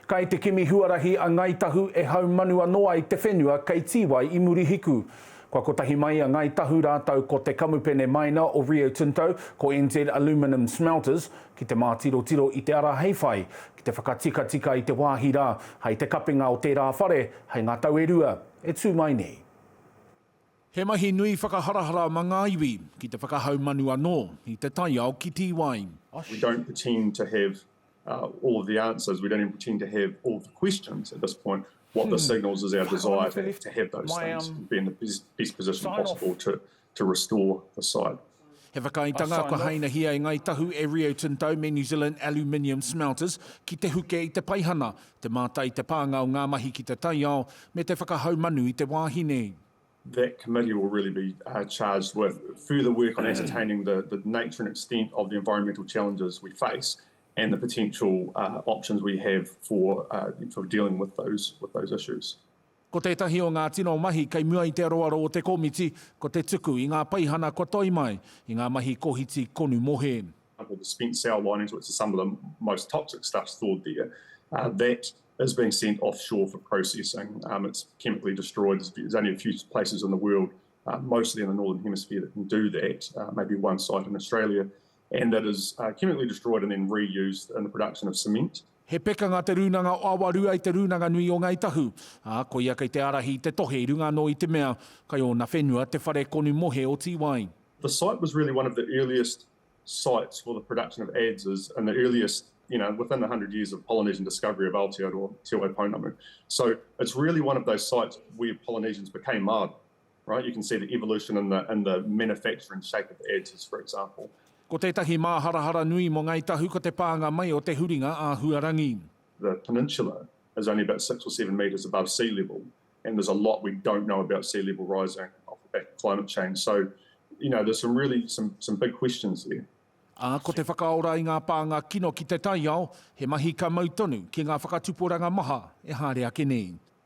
Kai te kimi huarahi a Ngai Tahu e haumanu anō ai te whenua kei Tīwai i Murihiku. Kua kotahi mai a Ngai Tahu rātou ko te kamupene maina o Rio Tinto, ko NZ Aluminium Smelters, ki te mātirotiro i te ara hei whai, ki te whakatikatika i te wāhi rā, hai te kapinga o tērā whare, hai ngā tau e rua e tū mai nei. He mahi nui whakaharahara ma ngā iwi, ki te whakahaumanu anō i te taiao ki Tīwai. We don't pretend to have all of the answers, we don't even pretend to have all of the questions at this point, what this signals is our desire to have those things, be in the best position possible to restore the site. He whakaaetanga kua hainahia e Ngāi Tahu e Rio Tinto me New Zealand Aluminium Smelters ki te huke i te paihana, te mātai i te pānga o ngā mahi ki te taiao, me te whakahaumanu i te wāhi nei. That committee will really be charged with further work on ascertaining the nature and extent of the environmental challenges we face and the potential options we have for dealing with those issues. Ko tētahi o ngā tino mahi kei mua i te aroaro o te komiti, ko te tuku i ngā peihana kua toi mai i ngā mahi kohiti konu mohe. or the spent sow linings which is some of the most toxic stuff stored there, that is being sent offshore for processing, it's chemically destroyed, there's only a few places in the world, mostly in the northern hemisphere that can do that, maybe one site in Australia, and that is chemically destroyed and then re-used in the production of cement. He pekanga Te Rūnanga o Awarua i te Rūnanga Nui o Ngāi Tahu, ā, koia kei te ārahi i te tohe i runga anō i te mea, kai ōna whenua te whare konu mohe o Tīwai. The site was really one of the earliest sites for the production of adzes in the earliest, you know, within the hundred years of Polynesian discovery of Aotearoa, Te Waipounamu. So it's really one of those sites where Polynesians became Māori. Right, you can see the evolution in the, in the manufacture and shape of ads as for example. Ko tētahi māharahara nui mō Ngāi Tahu ko te pānga mai o te huringa āhuarangi. The peninsula is only about six or seven metres above sea level and there's a lot we don't know about sea level rising off the back of climate change. So, you know, there's some really, some, some big questions there. Ā, ko te whakaora i ngā pānga kino ki te taiao, he mahi ka mau tonu ki ngā whakatuporanga maha e haere ake nei.